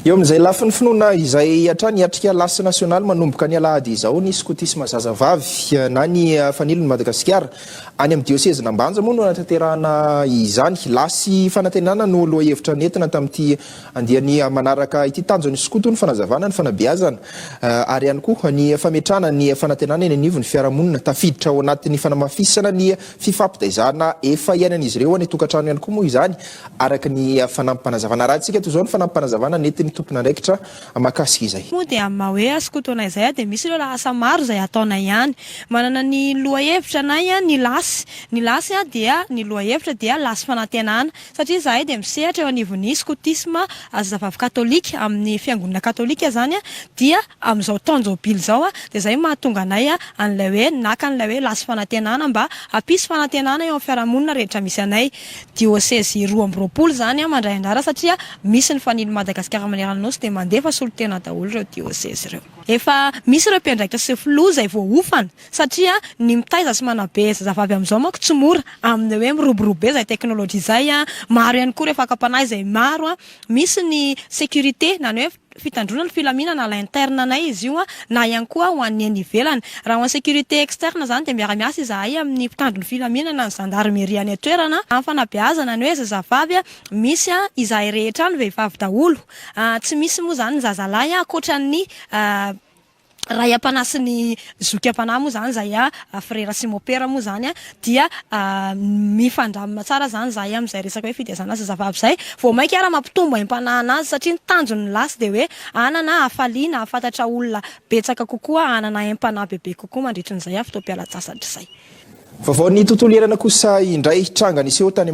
Eo amin'izay lafiny finoana izay hatrany hiatrika lasy nasionaly manomboka ny alahady izao ny skotisma zazavavy na ny Fanilon'i Madagasikara. Any amin'ny diosezin'Ambanja moa no hanatanterahana izany. Lasy fanantenana no lohahevitra nentina tamin'ity andiany manaraka ity. Tanjon'ny skoto ny fanazavana, ny fanabeazana ary ihany koa ny fametrahana ny fanantenana eny anivon'ny fiarahamonina. Tafiditra ao anatin'ny fanamafisana ny fifampitaizana efa iainan'izy ireo any an-tokantrano ihany koa moa izany Araka ny fanampim-panazavana. Raha antsika toy izao ny fanampim-panazavana nentin'ny tompon'andraikitra mahakasika izay. Moa dia amin'ny maha hoe asa koto anay izay dia misy ireo lahasa maro izay ataonay ihany. Manana ny lohahevitra anay ny lasy. Ny lasy dia ny lohahevitra dia lasy fanantenana. Satria izahay dia misehatra eo anivon'ny skotisma zazavavy katolika amin'ny fiangonana katolika izany dia amin'izao taon-jobily izao dia izay mahatonga anay an'ilay hoe naka an'ilay hoe lasy fanantenana mba hampisy fanantenana eo amin'ny fiarahamonina rehetra misy anay. Diosezy roa amby roapolo izany mandray anjara satria misy ny fanilo Madagasikara manerana Nosy dia mandefa solontena daholo ireo diosezy ireo. Efa misy ireo mpiandraikitra sy filoha izay voaofana satria ny mitaiza sy manabe zazavavy amin'izao manko tsy mora amin'ny hoe miroborobo be izay teknolojia izay, maro ihany koa ireo fakam-panahy izay maro, misy ny sécurité na ny hoe. fitandroana ny filaminana à l'interne anay izy io na ihany koa ho an'ny eny ivelany. Raha ho an'ny sécurité externe izany dia miara-miasa izahay amin'ny mpitandro ny filaminana, ny zandarimeria any an-toerana amin'ny fanabeazana ny hoe zazavavy misy izahay rehetra any vehivavy daholo. Tsy misy moa izany ny zazalahy ankoatran'ny. Ray am-panahy sy ny zoky am-panahy moa izany izahay, frera sy mopera moa izany dia mifandramina tsara izany izahay amin'izay resaka hoe fitaizana zazavavy izay. Vao mainka ary mampitombo aim-panahy an'azy satria ny tanjony ny lasy dia hoe hanana hafaliana, hahafantatra olona betsaka kokoa, hanana aim-panahy bebe kokoa mandritrin'izay fotoam-pialan-tsasatra izay. Vaovaon'ny tontolo iainana kosa indray, tranga niseho tany amin'ny.